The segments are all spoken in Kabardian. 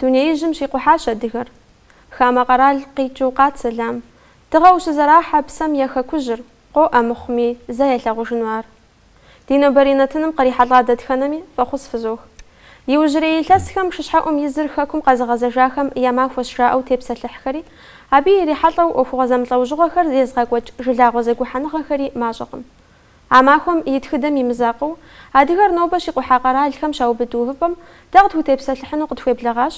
Дунеижьым щикъухьащ адыгэр. Хамэ къэрал къикӏыу къат сэлам. Дыгъэу щызэрахьэ псэм я хэкужьыр, къоӏэ мыхъуми, зэ ялъагъужыну ар. Ди нобэрей нэтыным кърихьэлӏа дэтхэнэми фӏэхъус фызох. Иужьрей илъэсхэм шыщхьэӏум и зыр Хэкум къэзыгъэзэжахэм я махуэщ жаӏэу тепсэлъыхьхэри, абы ирихьэлӏэу ӏуэхугъуэ зэмылӏэужьыгъуэхэр езыгъэкӏуэкӏ жылагъуэ зэгухьэныгъэхэри мащӏэкъым. А махуэм и тхыдэм и мызакъуэу, адыгэр нобэ щикъухьа къэралхэм щаубыд увыпӏэм дэ къытхутепсэлъыхьыну къытхуеблэгъащ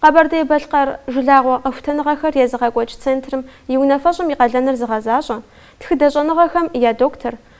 Къэбэрдей-Балъкъэр жылагъуэ къэхутэныгъэхэр езыгъэкӏуэкӏ центрым и унафэщӏым и къалэныр зыгъэзащӏэ, тхыдэ щӏэныгъэхэм я доктор,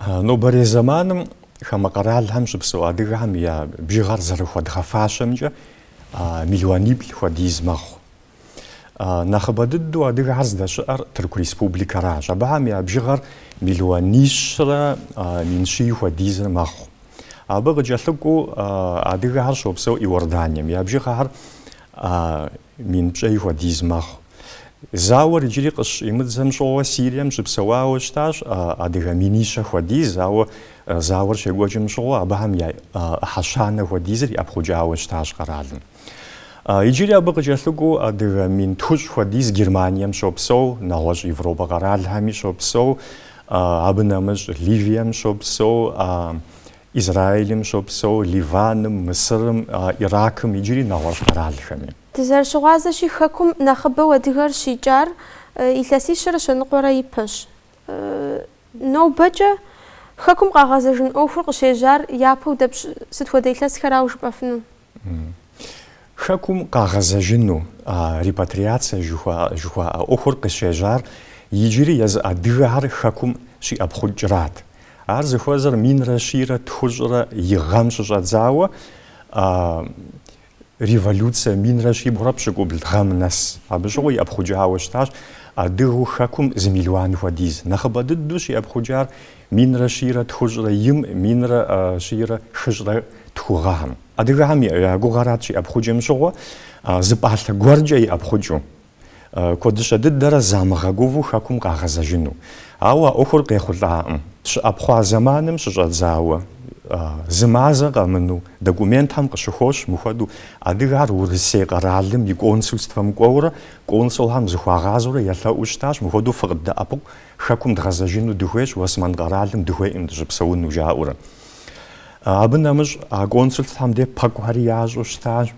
Нобэрей зэманым хамэ къэралхэм щыпсэу адыгэхэм я бжыгъэр зэрыхуэдгъэфащэмкӏэ миллиониплӏ хуэдиз мэхъу. Нэхъыбэ дыдэу адыгэхэр здэщыӏэр Тырку Республикэращ. Абыхэм я бжыгъэр миллионищрэ мин щий хуэдизыр мэхъу. Абы къыкӏэлъыкӏуэу адыгэхэр щопсэу Иорданием. Я бжыгъэхэр мин пщӏей хуэдиз мэхъу. Зауэр иджыри къыщӏимыдзэм щыгъуэ Сирием щыпсэуауэ щытащ адыгэ минищэ хуэдиз, ауэ зауэр щекӏуэкӏым щыгъуэ абыхэм я ӏыхьэ щанэ хуэдизыр иӏэпхъукӏауэ щытащ къэралым. Иджыри абы къыкӏэлъыкӏуэу адыгэ мин тхущӏ хуэдиз Германием щопсэу, нэгъуэщӏ Европэ къэралхэми щопсэу, абы нэмыщӏ Ливием щопсэу, Израилым щопсэу, Ливаным, Мысырым, Иракым иджыри нэгъуэщӏ къэралхэми. Дызэрыщыгъуазэщи, Хэкум нэхъыбэу адыгэр щикӏар илъэсищэрэ щэныкъуэрэ ипэщ. Нобэкӏэ Хэкум къагъэзэжын ӏуэхур къыщежьар япэу дапщ сыт хуэдэ илъэсхэрауэ жыпӏэфыну? Хэкум къагъэзэжыну, репатриацэ жыхуаӏэ ӏуэхур къыщежьар иджыри езы адыгэхэр Хэкум щиӏэпхъукӏрат. Ар зыхуэзэр минрэ щийрэ тхущӏрэ и гъэм щыщӏэдзауэ Революцэ минрэ щибгъурэ пщыкӏубл гъэм нэс. Абы щыгъуэ иӏэпхъукӏауэ щытащ адыгэу хэкум зы мелуан хуэдиз. Нэхъыбэ дыдэу щиӏэпхъукӏар минрэ щийрэ тхущӏрэ им, минрэ щийрэ хыщӏрэ тху гъэхэм. Адыгэхэм я гугъэрат щиӏэпхъукӏым щыгъуэ зы пӏалъэ гуэркӏэ иӏэпхъукӏыу. Куэдыщэ дыдэрэ замыгъэгуву хэкум къагъэзэжыну. Ауэ а ӏуэхур къехъулӏакъым. Щыӏэпхъуа зэманым щыщӏэдзауэ, зы мазэ къэмыну, документхэм къыщыхощ мыхуэдэу адыгэхэр Урысей къэралым и консульствэм кӏуэурэ, консулхэм зыхуагъазэурэ елъэӏуу щытащ, мыхуэдэу фыкъыддэӏэпыкъу, хэкум дгъэзэжыну дыхуейщ, Уэсмэн къэралым дыхуейкъым дыщыпсэуну жаӏэурэ. Абы нэмыщӏ а консульствэхэм де пэкӏухэри ящӏу щытащ.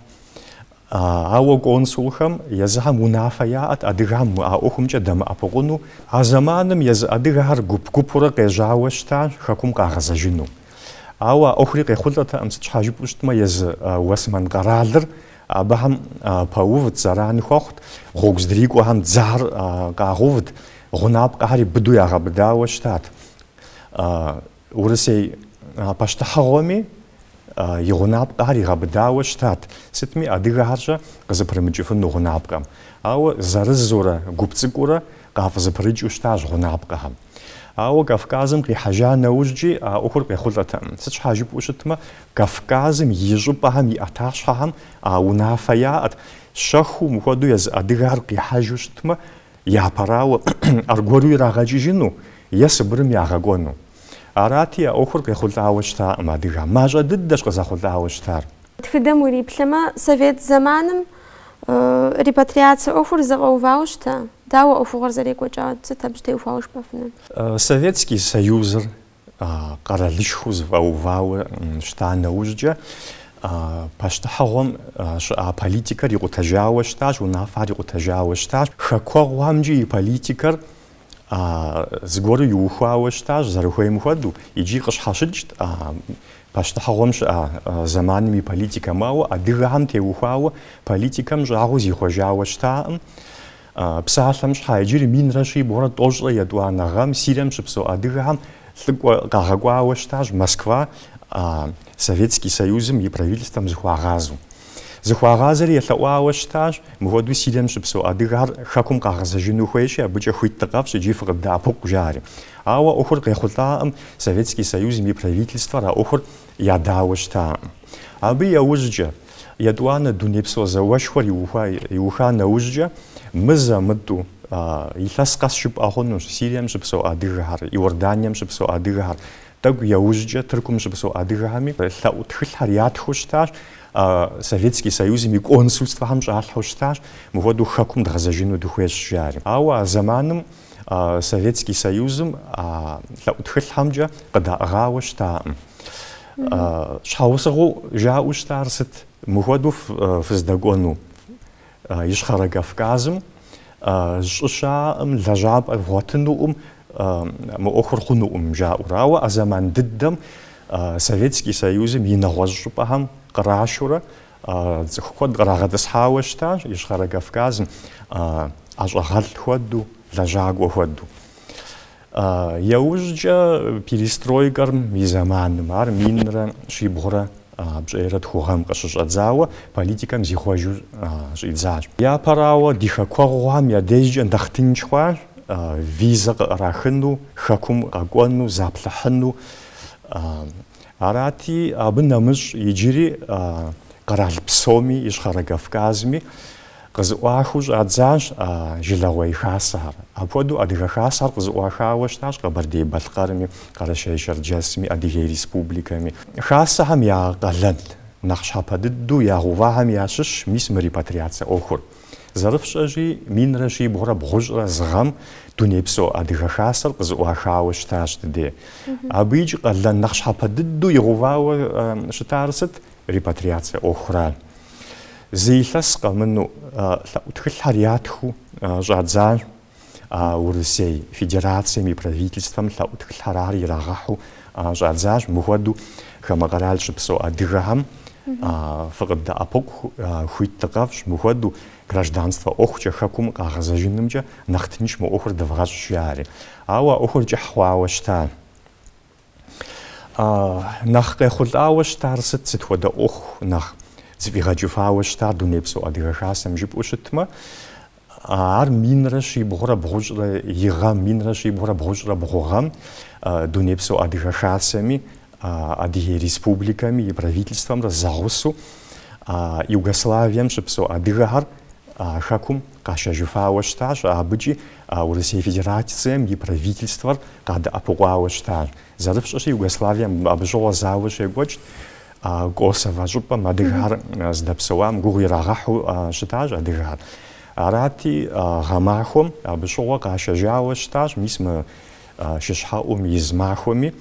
Ауэ консулхэм езыхэм унафэ яӏэт адыгэхэм а ӏуэхумкӏэ дэмыӏэпыкъуну, а зэманым езы адыгэхэр гуп-гупурэ къежьауэ щытащ хэкум къагъэзэжыну. Ауэ а ӏуэхури къехъулӏэтэкъым, сыт щхьа жыпӏэу щытмэ езы Уэсмэн къэралыр абыхэм пэувт, зэран хуэхъут, гъуэгу здрикӏуэхэм дзэхэр къагъэувт, гъунапкъэхэри быдэу ягъэбыдауэ щытат. Урысей пащтыхьыгъуэми и гъунапкъэхэр игъэбыдауэ щытат, сытми адыгэхэрщэ къызыпрымыкӏыфыну гъунапкъэм. Ауэ зырызурэ гуп цӏыкӏуурэ къафӏызыпрыкӏыу щытащ гъунапкъэхэм. Ауэ Кавказым къихьэжа нэужькӏи а ӏуэхур къехъулӏэтэкъым. Сыт щхьа жыпӏэу щытмэ, Кавказым и щӏыпӏэхэм и ӏэтащхьэхэм а унафэ яӏэт. Щэхуу мыхуэдэу езы адыгэхэр къихьэжу щытмэ, Япэрауэ, аргуэру ирагъэкӏыжыну е Сыбырым ягъэкӏуэну. Арати, а ӏуэхур къехъулӏауэ щытакъым адыгэм. Мащӏэ дыдэщ къызэхъулӏауэ щытар. Тхыдэм уриплъэмэ, совет зэманым репатриация ӏуэхур зэфӏэувауэ щыта? Дауэ ӏуэхугъуэр зэрекӏуэкӏар? Сыт абы теухуауэ жыпӏэфынур? Советский Союзыр къэралышхуэу зэфӏэувауэ щыта нэужькӏэ, пащтыхьыгъуэм щыӏа политикэр икъутэжауэ щытащ, унафэр икъутэжауэ щытащ, хэкуэгъухэмкӏи и политикэр зыгуэру иухуауэ щытащ, зэрыхуейм хуэдэу, икӏи къыщхьэщыкӏт пащтыхьыгъуэм щыӏа зэманым и политикэм. Ауэ адыгэхэм теухуауэ политикэм щӏагъуэу зихъуэжауэ щытакъым. Псалъэм щхьа иджыри минрэ щибгъурэ тӏощӏрэ етӏуанэ гъэм Сирием щыпсэу адыгэхэм лӏыкӏуэ къагъэкӏуауэ щытащ Москва Советский Союзым и правительствэм зыхуагъазэу. Зыхуагъазэри елъэӏуауэ щытащ, мыхуэдэу Сирием щыпсэу адыгэхэр Хэкум къагъэзэжыну хуейщи, абыкӏэ хуит дыкъэфщӏ икӏи фыкъыддэӏэпыкъу, жари. Ауэ ӏуэхур къехъулӏакъым, Советский Союзым и правительствэр а ӏуэхур Ядауэ щытакъым. Абы яужькӏэ, етӏуанэ дунейпсо зауэшхуэр иуха нэужькӏэ, мызэ-мытӏэу илъэс къэс жыпӏэ хъунущ Сирием щыпсэу адыгэхэр, Иорданием щыпсэу адыгэхэр, тӏэкӏу яужькӏэ Тыркум щыпсэу адыгэхэми лъэӏу тхылъхэр ятхыу щытащ, Советский Союзым и консульствэхэм щӏалъхьэу щытащ, мыхуэдэу хэкум дгъэзэжыну дыхуейщ жари. Ауэ а зэманым Советский Союзым а лъэӏу тхылъхэмкӏэ къыдаӏыгъауэ щытакъым. Щхьэусыгъуэу жаӏэу щытар сыт? Мыхуэдэу фыздэкӏуэну Ищхъэрэ Кавказым щӏы щаӏэкъым, лэжьапӏэ вгъуэтынукъым, мы ӏуэхур хъунукъым жаӏэурэ. Ауэ а зэман дыдэм Советский Союзым и нэгъуэщӏ щӏыпӏэхэм кърашурэ Цӏыху куэд кърагъэтӏысхьауэ щытащ Ищхъэрэ Кавказым, ӏэщӏагъэлӏ хуэдэу, лэжьакӏуэ хуэдэу. Яужькӏэ перестройкэм и зэманым, ар минрэ щибгъурэ пщӏейрэ тху гъэм къыщыщӏэдзауэ, политикэм зихъуэжу щӏидзащ. Япэрауэ, ди хэкуэгъухэм я дежкӏэ нэхъ тынш хъуащ, визэ къыӏэрахыну, Хэкум къэкӏуэну, заплъыхьыну. Арати, абы нэмыщӏ иджыри къэрал псоми, Ищхъэрэ Кавказми къызыӏуахыу щӏадзащ а Жылагъуэ и Хасэхэр. Апхуэдэу Адыгэ Хасэхэр къызыӏуахауэ щытащ Къэбэрдей-Балъкъэрми, Къэрэшей-Шэрджэсми, Адыгей Республикэми. Хасэхэм я къалэн нэхъ щхьэпэ дыдэу ягъэувахэм ящыщщ мис мы репатриацэ ӏуэхур. Зэрыфщӏэщи, минрэ щибгъурэ бгъущӏрэ зы гъэм Дунейпсо Адыгэ Хасэр къызыӏуахауэ щытащ дыде. Абы икӏи къалэн нэхъ щхьэпэ дыдэу игъэувауэ щытар сыт? Репатриацэ ӏуэхура. Зы илъэс къэмынэу, лъэӏу тхылъхэр ятхыу щӏадзащ. а Урысей Федерацэм и Правительствэм лъэӏу тхылъхэр ар ирагъэхьу щӏадзащ, мыхуэдэу хамэ къэрал щыпсэу адыгэхэм фыкъыддэӏэпыкъу хуит дыкъэфщӏ, мыхуэдэу гражданствэ ӏуэхукӏэ хэкум къагъэзэжынымкӏэ нэхъ тынш мы ӏуэхур дывгъэщӏ, жаӏэри. Ауэ а ӏуэхур кӏыхь хъуауэ щыта. А нэхъ къехъулӏауэ щытар сыт, сыт хуэдэ ӏуэху нэхъ зыфӏигъэкӏыфауэ щытар Дунейпсо Адыгэ Хасэм жыпӏэу щытмэ, ар минрэ щибгъурэ бгъущӏрэ и гъэм, минрэ щибгъурэ бгъущӏрэ бгъу гъэм Дунейпсо Адыгэ Хасэми, Адыгей Республикэми и Правительствэмрэ зэгъусэу Югославием щыпсэу адыгэхэр Хэкум Къашэжыфауэ щытащ абыкӏи а Урысей Федерацэм и Правительствэр къадэӏэпыкъуауэ щытащ. Зэрыфщӏэщи, Югославием абы щыгъуэ зауэ щекӏуэкӏт. Косово щӏыпӏэм адыгэр здэпсэуам гугъу ирагъэхьу щытащ адыгэр. Арати, гъэмахуэм абы щыгъуэ къашэжауэ щытащ, мис мы шыщхьэӏум и зы махуэми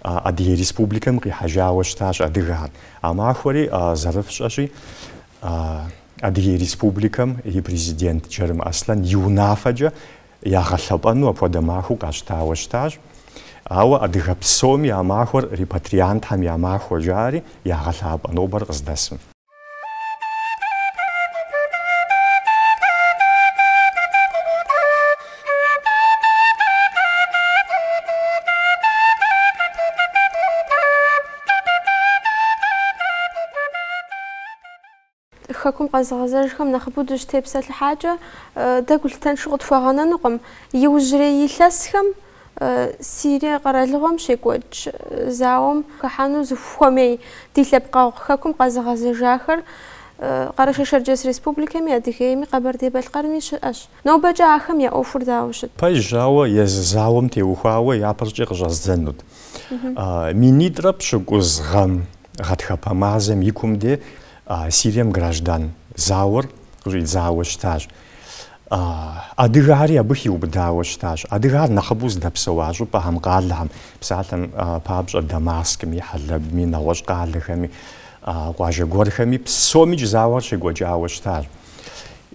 Адыгей Республикэм къихьэжауэ щытащ адыгэр. А махуэри зэрыфщӏэщи, Адыгей Республикэм и Президент Джэрым Аслъэн и унафэкӏэ ягъэлъэпӏэну апхуэдэ махуэу къащтауэ щытащ. Ауэ адыгэ псоми а махуэр репатриантхэм я махуэ жари ягъэлъапӏэ нобэр къыздэсым. Хэкум къэзыгъэзэжхэм нэхъыбэу дыщытепсэлъыхьакӏэ, дэ гулъытэншэу къытхуэгъэнэнукъым. Иужьрей илъэсхэм Сирие къэралыгъуэм щекӏуэкӏ зауэм хыхьэну зыхуэмей ди лъэпкъэгъу Хэкум къэзыгъэзэжахэр Къэрэшей-Шэрджэс Республикэми, Адыгейми, Къэбэрдей-Балъкъэрми щыӏэщ. Нобэкӏэ ахэм я ӏуэхур дауэ щыт? Пэжщ, ауэ езы зауэм теухуауэ япэркӏэ къыщӏэздзэнут. Минитӏрэ пщыкӏуз гъэм гъэтхэпэ мазэм и кум де Сирием граждан зауэр къыщӏидзауэ щытащ. Адыгэхэри абы хиубыдауэ щытащ. Адыгэхэр нэхъыбэу зыдэпсэуа щӏыпӏэхэм, къалэхэм, псалъэм папщӏэ, Дамаскми, Хьэлэбми, нэгъуэщӏ къалэхэми, къуажэ гуэрхэми, псомикӏ зауэр щекӏуэкӏауэ щытащ.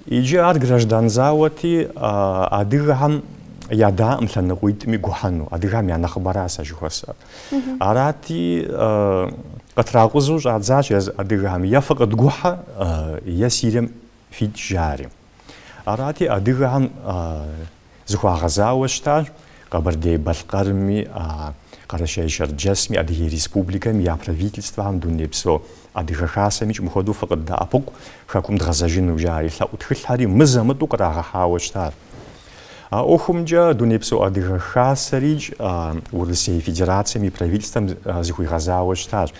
Иджы ар граждан зауэти, адыгэхэм ядаӏым лъэныкъуитӏми гухьэну, адыгэхэм я нэхъыбэращ а жыхуэсӏэр. Арати, къытракъузу щӏадзащ езы адыгэхэм, е фыкъыдгухьэ, е Сирием фикӏ жари. Арати, адыгэхэм зыхуагъэзауэ щытащ Къэбэрдей-Балъкъэрми, Къэрэшей-Шэрджэсми, Адыгей Республикэми я Правительствэхэм Дунейпсо Адыгэ Хасэмикӏ мыхуэдэу фыкъыддэӏэпыкъу Хэкум дгъэзэжыну жаӏэри, лъэӏу тхылъхэри мызэ-мытӏэу кърагъэхьауэ щытащ. А ӏуэхумкӏэ Дунейпсо Адыгэ Хасэрикӏ Урысей Федерацэм и Правительствэм зыхуигъэзауэ щытащ.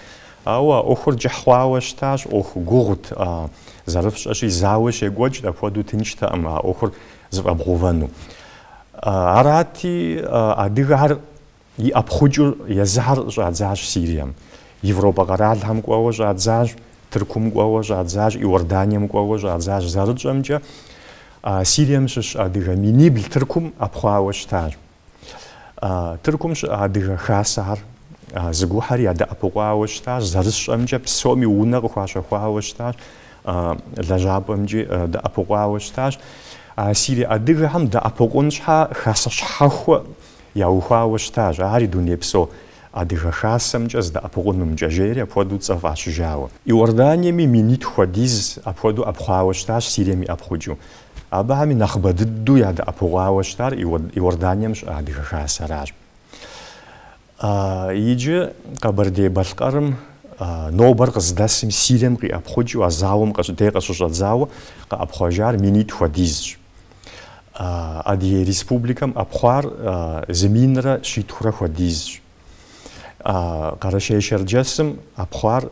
Ауэ а ӏуэхур кӏыхь хъуауэ щытащ, ӏуэху гугъут, зэрыфщӏэщи, зауэ щекӏуэкӏт, апхуэдэу тынштэкъым а ӏуэхур зэфӏэбгъэувэну. Арати, адыгэхэр иӏэпхъукӏыу езыхэр щӏадзащ Сирием, Европэ къэралхэм кӏуэуэ щӏадзащ, Тыркум кӏуэуэ щӏадзащ, Иорданием кӏуэуэ щӏадзащ. Зэрытщӏэмкӏэ, Сирием щыщ адыгэ минибл Тыркум ӏэпхъуауэ щытащ. Тыркум щыӏэ Адыгэ Хасэхэр зэгухьэри ядэӏэпыкъуауэ щытащ, зэрысщӏэмкӏэ псоми унэ къыхуащэхуауэ щытащ, лэжьапӏэмкӏи дэӏэпыкъуауэ щытащ. Сири адыгэхэм дэӏэпыкъун щхьа Хасэ щхьэхуэ яухуауэ щытащ, ари дунейпсо Адыгэ Хасэмкӏэ зэдэӏэпыкъунымкӏэ, жери апхуэдэу цӏэ фӏащыжауэ. Иорданиеми минитху хуэдиз апхуэдэу ӏэпхъуауэ щытащ, Сирием иӏэпхъукӏыу. Абыхэми нэхъыбэ дыдэу ядэӏэпыкъуауэ щытар Иорданием щыӏэ Адыгэ Хасэращ. Иджы Къэбэрдей-Балъкъэрым нобэр къыздэсым Сирием къиӏэпхъукӏыу а зауэм къыщӏ- дей къыщыщӏэдзауэ къыӏэпхъуэжар минитӏ хуэдизщ. Адыгей Республикэм ӏэпхъуар зы минрэ щитхурэ хуэдизщ. Къэрэшей-Шэрджэсым ӏэпхъуар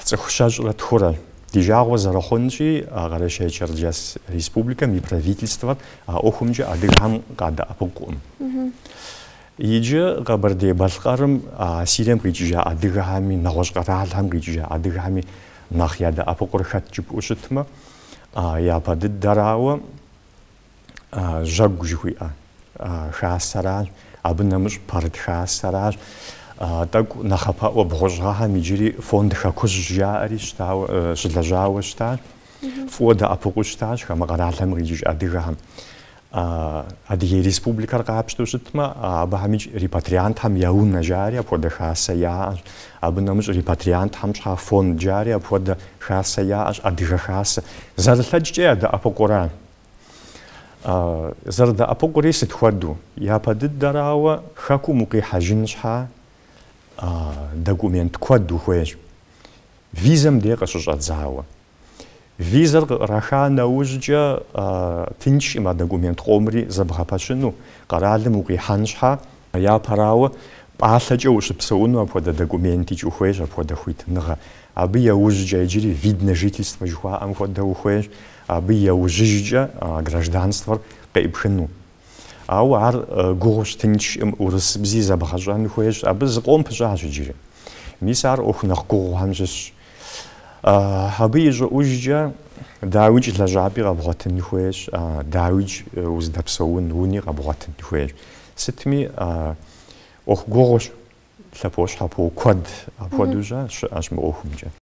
Цӏыху щэщӏрэ тхурэ. Ди жагъуэ зэрыхъунщи, а Къэрэщей-Черджэс Республикэм и Правительствэр а ӏуэхумкӏэ адыгэхэм къадэӏэпыкъукъым. Иджы Къэбэрдей-Балъкъэрым а Сирием къикӏыжа адыгэхэми, нэгъуэщӏ къэралхэм къикӏыжа адыгэхэми нэхъ ядэӏэпыкъур хэт жыпӏэу щытмэ, япэ дыдэрауэ, жьэгу жыхуиӏэ хасэращ, абы нэмыщӏ пэрыт хасэращ, тӏэкӏу нэхъапэӏуэ бгъущӏ гъэхэм иджыри фонд хэкужь жаӏэри щылэжьауэ щытащ, фӏыуэ дэӏэпыкъуу щытащ хамэ къэралхэм къикӏыж адыгэхэм. Адыгей Республикэр къапщтэу щытмэ, абыхэмикӏ репатриантхэм я унэ жари апхуэдэ хасэ яӏэщ, абы нэмыщӏ репатриантхэм щхьа фонд жари апхуэдэ хасэ яӏэщ, адыгэ хасэ. Зэрылъэкӏкӏэ ядэӏэпыкъура. Зэрыдэӏэпыкъури сыт хуэдэу? Япэ дыдэрауэ, Хэкум укъихьэжын щхьа, документ куэд ухуейщ. Визэм дей къыщыщӏэдзауэ. Визэр къыӏраха нэужькӏэ тыншкъым а документ къомри зэбгъэпэщыну, къэралым укъихьэн щхьа. Япэрауэ, пӏалъэкӏэ ущыпсэуну апхуэдэ документикӏ ухуейщ, апхуэдэ хуитыныгъэ. Абы яужькӏэ иджыри вид на жительство жыхуаӏэм хуэдэ ухуейщ. абы яужьыжкӏэ гражданствэр къеӏыпхыну. Ауэ ар гугъущ, тыншкъым, урысыбзи зэбгъэщӏэн хуейщ, абы зыкъом пыщӏащ иджыри. Мис ар ӏуэху нэхъ гугъухэм щыщщ. Абы и щӏыӏужкӏэ дауикӏ лэжьапӏи къэбгъуэтын хуейщ, дауикӏ уздэпсэун уни къэбгъуэтын хуейщ. Сытми ӏуэху гугъущ, лъэпощхьэпо куэд апхуэдэу щы щыӏэщ мы ӏуэхумкӏэ.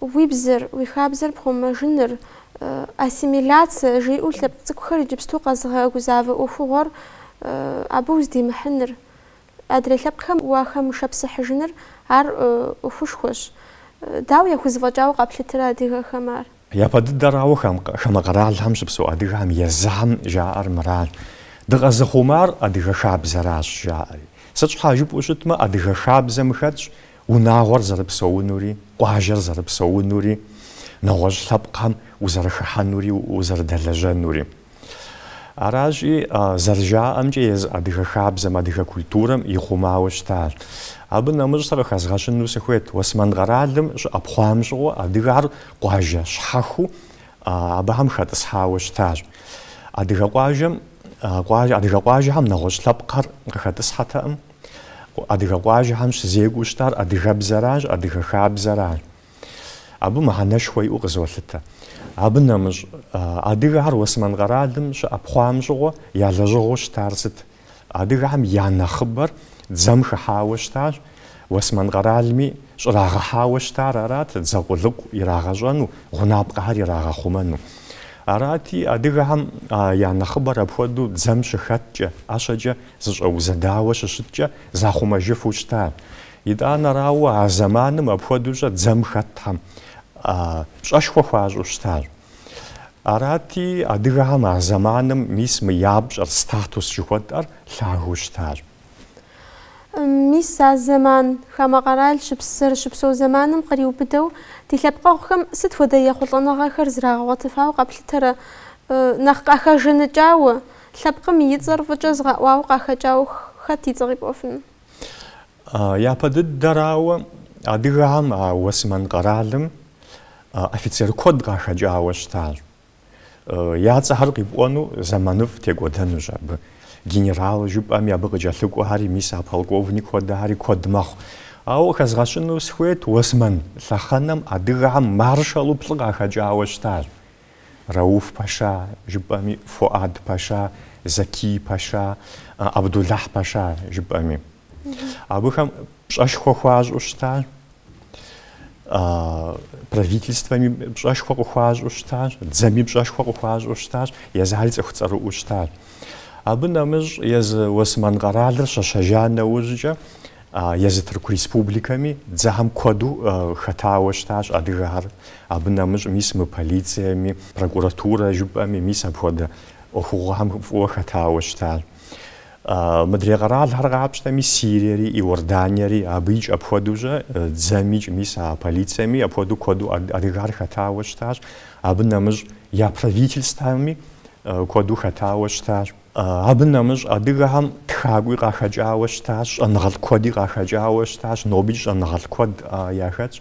Уи бзэр, уи хабзэр пхъумэжыныр, ассимиляцэ жиӏэу лъэпкъ цӏыкӏухэр иджыпсту къэзыгъэгузавэ ӏуэхугъуэр, абы уздимыхьыныр, адрей лъэпкъхэм уахэмышэпсыхьыжыныр ар ӏуэхушхуэщ. Дауэ яхузэфӏэкӏауэ къаплъытэрэ адыгэхэм ар? Япэ дыдэрауэ хамэ къэралхэм щыпсэу адыгэхэм езыхэм жаӏэр мыращ, Дыкъэзыхъумар адыгэ хабзэращ жаӏэри. Сыт щхьа жыпӏэу щытмэ, адыгэ хабзэм хэтщ Унагъуэр зэрыпсэунури, къуажэр зэрыпсэунури, нэгъуэщӏ лъэпкъхэм узэрыхыхьэнури узэрыдэлэжьэнури. Аращи, зэрыжаӏэмкӏэ, езы адыгэ хабзэм, адыгэ культурэм ихъумауэ щытащ. Абы нэмыщӏ сэ къыхэзгъэщыну сыхуейт, Уэсмэн къэралым щыӏэпхъуам щыгъуэ, адыгэр къуажэ щхьэхуэу абыхэм хэтӏысхьауэ щытащ. Адыгэ къуажэм, адыгэ къуажэхэм нэгъуэщӏ лъэпкъхэр къыхэтӏысхьэтэкъым. Адыгэ къуажэхэм щызекӏуэу щытар адыгэбзэращ, адыгэ хабзэращ. Абы мыхьэнэшхуэ иӏэу къызолъытэ. Абы нэмыщӏ, адыгэхэр Уэсмэн къэралым щыӏэпхъуам щыгъуэ я лэжьыгъэу щытар сыт? Адыгэхэм я нэхъыбэр дзэм хыхьауэ щытащ, Уэсмэн къэралми щӏрагъэхьауэ щытар арат, дзэ къулыкъу ирагъэщӏэну, гъунапкъэхэр ирагъэхъумэну. Арати, адыгэхэм я нэхъыбэр апхуэдэу дзэм щыхэткӏэ, ӏэщэкӏэ Зыщӏэузэдауэ щыщыткӏэ захъумэжыфу щытащ. Итӏанэрауэ, а зэманым апхуэдэущэ дзэм хэтхэм пщӏэшхуэ хуащӏу щытащ. Арати, адыгэхэм а зэманым мис мы я пщӏэр, статус жыхуэтӏэр лъагэу щытащ. Мис а зэман, хамэ къэрал щыпс зэрыщыпсэу зэманым къриубыдэу, ди лъэпкъэгъухэм сыт хуэдэ ехъулӏэныгъэхэр зрагъэгъуэтыфауэ къэплъытэрэ? Нэхъ къахэжаныкӏауэ, Лъэпкъым и цӏэр фӏыкӏэ зыгъэӏуауэ къахэкӏауэ хэт и цӏэ къипӏуэфыну? Япэ дыдэрауэ, адыгэхэм а Уэсмэн къэралым офицер куэд къахэкӏауэ щытащ. Я цӏэхэр къипӏуэну зэманыфӏ текӏуэдэнущ абы. Генерал жыпӏэми, абы къыкӏэлъыкӏуэхэри, мис а полковник хуэдэхэри куэд мэхъу. Ауэ къыхэзгъэщыну сыхуейт, Уэсмэн лъэхъэнэм адыгэхэм маршалу плӏы къахэкӏауэ щытащ. Рауф паша, жыпӏэми, Фуад паша, Закий паша, Абдулахь паша, жыпӏэми. Абыхэм пщӏэшхуэ хуащӏу щытащ, правительствэми пщӏэшхуэ къыхуащӏу щытащ, дзэми пщӏэшхуэ къыхуащӏу щытащ, езыхэри цӏыху цӏэрыӏуэу щытащ. Абы нэмыщӏ езы Уэсмэн къэралыр щэщэжа нэужькӏэ, Езы Тырку Республикэми дзэхэм куэду хэтауэ щытащ адыгэхэр. Абы нэмыщӏ мис мы полицэми, прокуратурэ жыпӏэми мис апхуэдэ ӏуэхугъуэхэм фӏыуэ хэтауэ щытащ. Мыдрей къэралхэр къапщтэми, Сириери, Иорданиери абыикӏ апхуэдэущэ дзэмикӏ мис а полицэми апхуэдэу куэду адыгэхэр хэтауэ щытащ. Абы нэмыщӏ я правительствэми куэду хэтауэ щытащ. Абы нэмыщӏ адыгэхэм тхакӏуи къахэкӏауэ щытащ, щӏэныгъэлӏ куэди къахэкӏауэ щытащ, нобикӏ щӏэныгъэлӏ куэд яхэтщ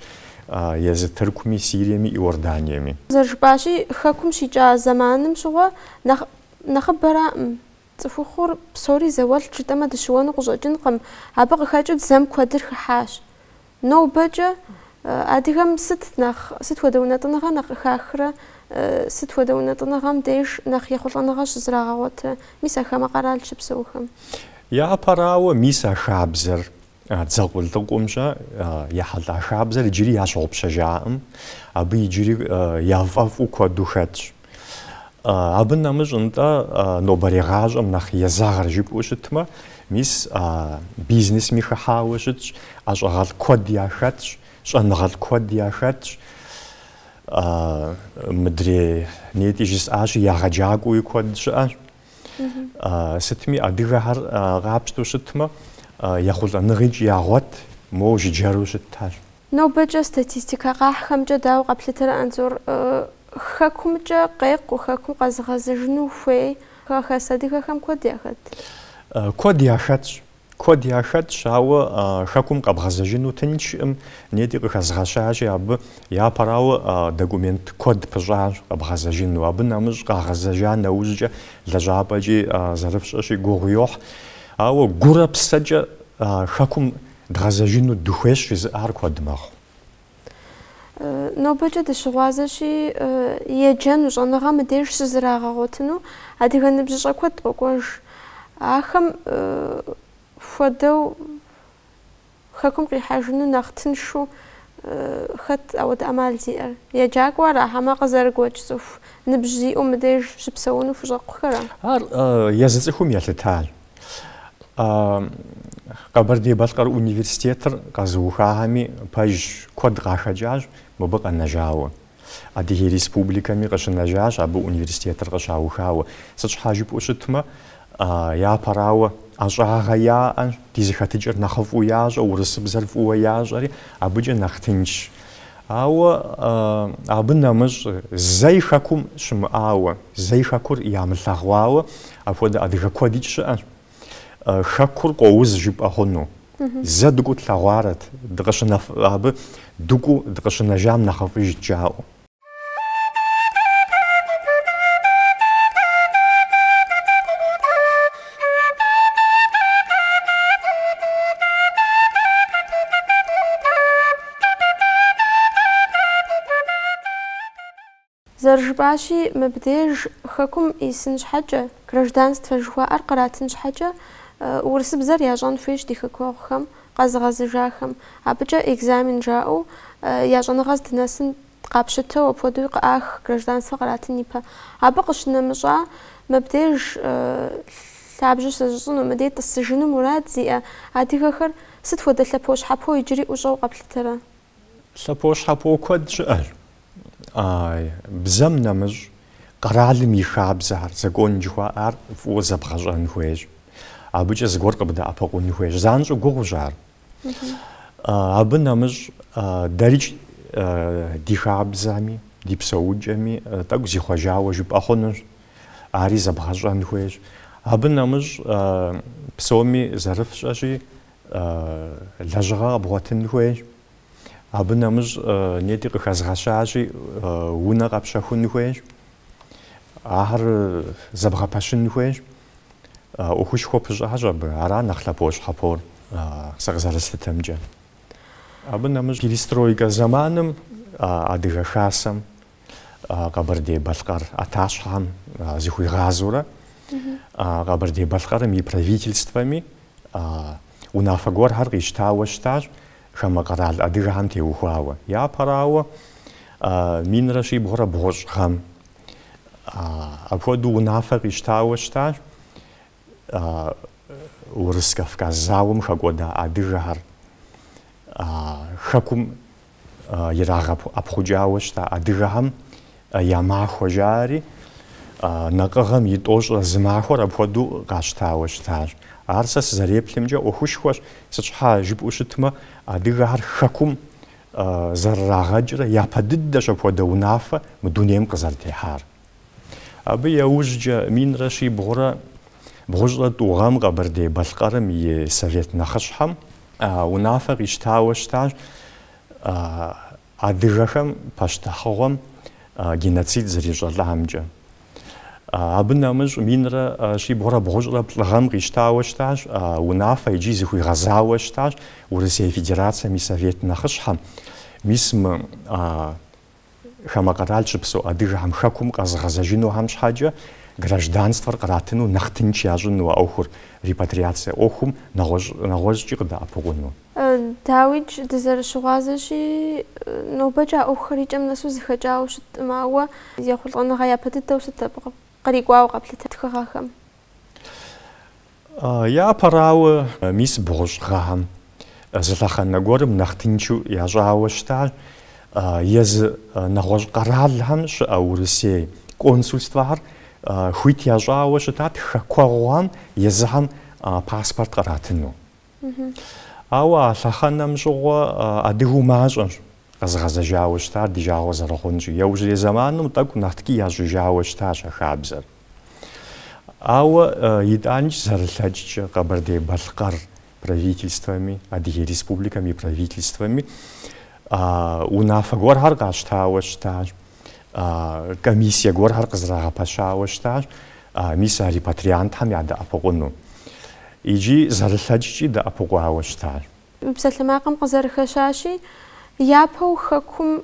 езы Тыркуми, Сириеми, Иорданиеми. Зэрыжыпӏащи, Хэкум щикӏа зэманым щыгъуэ нэхъ нэхъыбэраӏым. Цӏыхухъур псори зауэлӏт жытӏэмэ дыщыуэну къыщӏэкӏынкъым, абы къыхэкӏыу дзэм куэдыр хыхьащ. Нобэкӏэ адыгэм сыт нэхъ, сыт хуэдэ унэтӏыныгъэ нэхъ къыхахрэ, сыт хуэдэ унэтӏыныгъэм деж нэхъ ехъулӏэныгъэ щызрагъэгъуэтрэ, мис а хамэ къэрал щыпсэухэм? Япэрауэ, мис а хабзэр, а дзэ къулыкъумкӏэ ехьэлӏа хабзэр иджыри ящыгъупщэжакъым, абы иджыри яфӏэфӏу куэду хэтщ. Абы нэмыщӏ нтӏэ нобэрей гъащӏэм нэхъ езэгъыр жыпӏэу щытмэ, мис бизнесми хыхьауэ щытщ, ӏэщӏагъэлӏ куэд яхэтщ, щӏэныгъэлӏ куэд яхэтщ. Мыдрей нетӏи жысӏащи, егъэджакӏуэуи куэд щыӏэщ. Сытми адыгэхэр къапщтэу щытмэ, ехъулӏэныгъикӏ ягъуэт, моуэ жыджэру щытхэщ. Нобэкӏэ статистикэ къахьхэмкӏэ дауэ къэплъытэрэ Анзор? Хэкумкӏэ къекъуу, хэкум къэзыгъэзэжыну хуей хэхэс адыгэхэм куэд яхэт? Куэд яхэтщ. Куэд яхэтщ, ауэ хэкум къэбгъэзэжыну тыншкъым, нетӏи къыхэзгъэщащи, абы япэрауэ документ куэд пыщӏащ къэбгъэзэжыну. Абы нэмыщӏ къагъэзэжа нэужькӏэ лэжьапӏэкӏи зэрыфщӏэщи гугъу йохь. Ауэ гурэ псэкӏэ хэкум Дгъэзэжыну дыхуейщ жызыӏэр куэд мэхъу. Нобэкӏэ дыщыгъуазэщи, еджэну, щӏэныгъэ мыдеж щызрагъэгъуэтыну адыгэ ныбжьыщӏэ куэд къокӏуэж. Ахэм хуэдэу хэкум къихьэжыну нэхъ тыншу хэт апхуэдэ ӏэмал зиӏэр? Еджакӏуэ ара, хьэмэ къызэрыгуэкӏ цӏыху ныбжь зиӏэу мыдеж щыпсэуну хущӏэкъухэра? Ар езы цӏыхум елъытащ. Къэбэрдей-Балъкъэр университетыр къэзыухахэми пэжщ, куэд къахэкӏащ мыбы къэнэжауэ. Адыгей республикэми къыщынэжащ абы университетыр къыщаухауэ. Сыт щхьа жыпӏэу щытмэ, япэрауэ, ӏэщӏагъэ яӏэ, ди зэхэтыкӏэр нэхъыфӏу ящӏэ, урысыбзэр фӏыуэ ящӏэри, абыкӏэ нэхъ тыншщ. Ауэ абы нэмыщӏ зэи хэкум щымыӏауэ, зэи хэкур ямылъэгъуауэ апхуэдэ адыгэ куэдикӏ щыӏэщ. Хэкур къоуз жыпӏэ хъуну. Зэ дыкӏуу тлъэгъуарэт, дыкъыщынэф, абы дыкӏуу дыкъыщынэжам нэхъыфӏыжт жаӏэу. Зэрыжыпӏащи, мыбдеж Хэкум исын щхьэкӏэ, гражданствэ жыхуаӏэр къратын щхьэкӏэ, урысыбзэр ящӏэн хуейщ ди хэкуэгъухэм, къэзыгъэзыжахэм. Абыкӏэ экзамен жаӏэу я щӏэныгъэ здынэсыр Къапщытэу апхуэдэуи къыӏах гражданствэ къратын ипэ. Абы къыщынэмыщӏа, мыбдеж лъабжьэ щызыщӏыну, мыдей тӏысыжыну мурад зиӏэ адыгэхэр сыт хуэдэ лъэпощхьэпо иджыри ӏущӏэу къэплъытэрэ? Лъэпощхьэпо куэд щыӏэщ. Бзэм нэмыщӏ, къэралым и хабзэр, закон жыхуаӏэр, фӏыуэ зэбгъэщӏэн хуейщ. Абыкӏэ зыгуэр къыбдэӏэпыкъун хуейщ. Занщӏэу гугъущ ар. Абы нэмыщӏ дэрикӏ ди хабзэми, ди псэукӏэми тӏэкӏу зихъуэжауэ жыпӏэ хъунущ, ари зэбгъэщӏэн хуейщ. Абы нэмыщӏ псоми зэрыфщӏэщи, лэжьыгъэ къэбгъуэтын хуейщ. Абы нэмыщӏ нетӏи къыхэзгъэщащи, унэ къэпщэхун хуейщ, ахэр зэбгъэпэщын хуейщ. ӏуэхушхуэ пыщӏащ абы, ара нэхъ лъэпощхьэпор, сэ къызэрыслъытэмкӏэ. Абы нэмыщӏ перестройкэ зэманым Адыгэ Хасэм Къэбэрдей-Балъкъэр ӏэтащхьэм зыхуигъазэурэ Къэбэрдей-Балъкъэрым и правительствэми унафэ гуэрхэр къищтауэ щытащ хамэ къэрал адыгэхэм теухуауэ. Япэрауэ, минрэ щибгъурэ бгъущӏ гъэм Апхуэдэу унафэ къищтауэ щытащ Урыс-Кавказ зауэм хэкӏуэда адыгэхэр, Хэкум ирагъэӏэпхъукӏауэ щыта адыгэхэм я махуэ жаӏэри, Накъыгъэм и тӏощӏрэ зы махуэр апхуэдэу къащтауэ щытащ. Ар сэ сызэреплъымкӏэ ӏуэхушхуэщ, сыт щхьа жыпӏэу щытмэ, адыгэхэр Хэкум зэрырагъэкӏрэ япэ дыдэщ апхуэдэ унафэ мы дунейм къызэрытехьар. Абы яужькӏэ минрэ щибгъурэ бгъущӏрэ тӏу гъэм Къэбэрдей-Балъкъэрым и Совет нэхъыщхьэм унафэ къищтауэ щытащ адыгэхэм пащтыхьыгъуэм геноцид зэрищӏэлӏамкӏэ. Абы нэмыщӏ минрэ щибгъурэ бгъущӏрэ плӏы гъэм къищтауэ щытащ, унафэ икӏи зыхуигъэзауэ щытащ Урысей Федерацэм и Совет нэхъыщхьэм. Мис мы хамэ къэрал щыпсэу адыгэхэм Хэкум къэзыгъэзэжынухэм щхьэкӏэ гражданствэр къратыну нэхъ тынч ящӏыну а ӏуэхур, репатриацэ ӏуэхум, нэгъуэщӏ, нэгъуэщӏкӏи къыдэӏэпыкъуну. Дауикӏ, дызэрыщыгъуазэщи, нобэкӏэ а ӏуэхухэр и кӏэм нэсу зэхэкӏауэ щыткъым, ауэ ехъулӏэныгъэ япэ дыдэу сыт абы кърикӏуауэ къэплъыта тхыгъэхэм? Япэрауэ, мис бгъущӏ гъэхэм зы лъэхъэнэ гуэрым нэхъ тынчу ящӏауэ щытащ езы нэгъуэщӏ къэралхэм щыӏэ Урысей консульствэхэр хуит ящӏауэ щытат хэкуэгъухэм езыхэм паспорт къратыну. Ауэ а лъэхъэнэм щыгъуэ адыгэу мащӏэщ къэзыгъэзэжауэ щытар ди жагъуэ зэрыхъунщи, яужьрей зэманым тӏэкӏу нэхъ ткӏий ящӏыжауэ щытащ а хабзэр. Ауэ итӏанкӏи зэрылъэкӏкӏэ Къэбэрдей-Балъкъэр правительствэми, Адыгей Республикэм и правительствэми унафэ гуэрхэр къащтауэ щытащ. комиссие гуэрхэр къызэрагъэпэщауэ щытащ мис а репатриантхэм ядэӏэпыкъуну. Икӏи зэрылъэкӏкӏи дэӏэпыкъуауэ щытащ. Мы псалъэмакъым къызэрыхэщащи, япэу Хэкум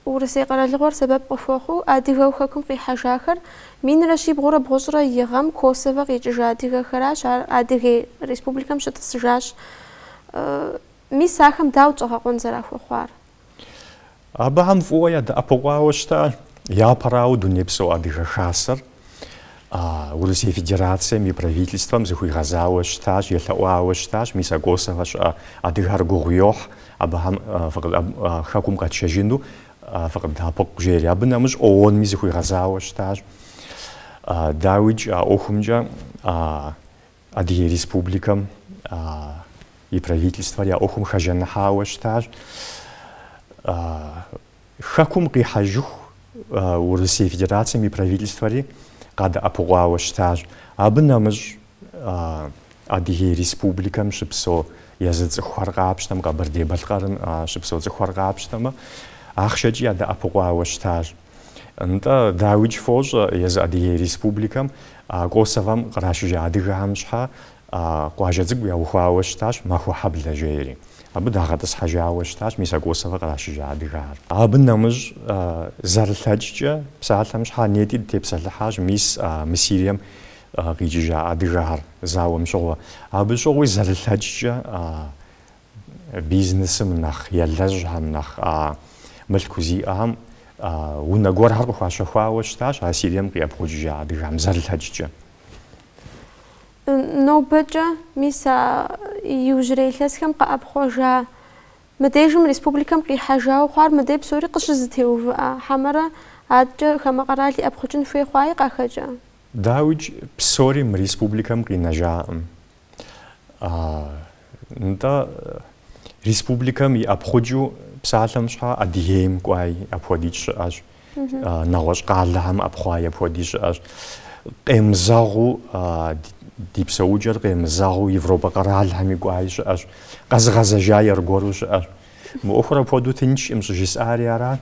Урысей къэралыгъуэр сэбэп къыхуэхъуу адыгэу Хэкум къихьэжахэр минрэ щибгъурэ бгъущӏрэ и гъэм Косовэ къикӏыжа адыгэхэращ, ар Адыгей Республикэм щытӏысыжащ. Мис ахэм дауэт щӏэгъэкъуэн зэрахуэхъуар? Абыхэм фӏыуэ ядэӏэпыкъуауэ щытащ. Япэрауэ Дунейпсо Адыгэ Хасэр Урысей Федерацэм и Правительствэм зыхуигъэзауэ щытащ, елъэӏуауэ щытащ, мис а Косовэ щыӏэ адыгэр гугъу йохь абыхэм Хэкум къэтщэжыну фыкъыддэӏэпыкъу жери. Абы нэмыщӏ ООН-ми зыхуигъэзауэ щытащ. Дауикӏ а ӏуэхумкӏэ Адыгей Республикэм и Правительствэри а ӏуэхум хэжаныхьауэ щытащ Хэкум къихьэжыху Урысей Федерацэм и Правительствэри къадэӏэпыкъуауэ щытащ. Абы нэмыщӏ Адыгей Республикэм щыпсэу езы цӏыхухэр къапщтэм, Къэбэрдей-Балъкъэрым щыпсэу цӏыхухэр къапщтэмэ, ахъшэкӏи ядэӏэпыкъуауэ щытащ. Нтӏэ, дауикӏ фощӏэ езы Адыгей Республикэм а Косовэм кърашыжа адыгэхэм щхьэ а къуажэ цӏыкӏу яухуауэ щытащ Махуэхьэблэ жери. Абы дагъэтӏысхьэжауэ щытащ мис а Косовэ кърашыжа адыгэхэр. Абы нэмыщӏ, зэрылъэкӏкӏэ, псалъэм щхьэ нетӏи дытепсэлъыхьащ мис а мы Сирием къикӏыжа адыгэхэр зауэм щыгъуэ. Абы щыгъуи зэрылъэкӏкӏэ Бизнесым нэхъ елэжьхэм, нэхъ мылъку зиӏэхэм унэ гуэрхэр къыхуащэхуауэ щытащ а Сирием къиӏэпхъукӏыжа адыгэхэм зэрылъэкӏкӏэ. Нобэкӏэ, мис а иужьрей илъэсхэм къыӏэпхъуэжа, мыдежым республикэм къихьэжауэ хъуар мыдэ псори къыщызэтеувыӏа хьэмэрэ адэкӏэ хамэ къэрал иӏэпхъукӏын хуей хъуаи къахэкӏа? Дауикӏ, псори мы республикэм къинэжакъым. Нтӏэ, республикэм иӏэпхъукӏыу псалъэм щхьа Адыгейм кӏуаи апхуэдикӏ щыӏэщ, нэгъуэщӏ къалэхэм ӏэпхъуаи апхуэдикӏ щыӏэщ. Къемызэгъыу ди псэукӏэр къемызэгъыу Европэ къэралхэми кӏуаи щыӏэщ, къэзыгъэзэжаи аргуэру щыӏэщ. Мы ӏуэхур апхуэдэу тынчкъым щӏыжысӏари арат.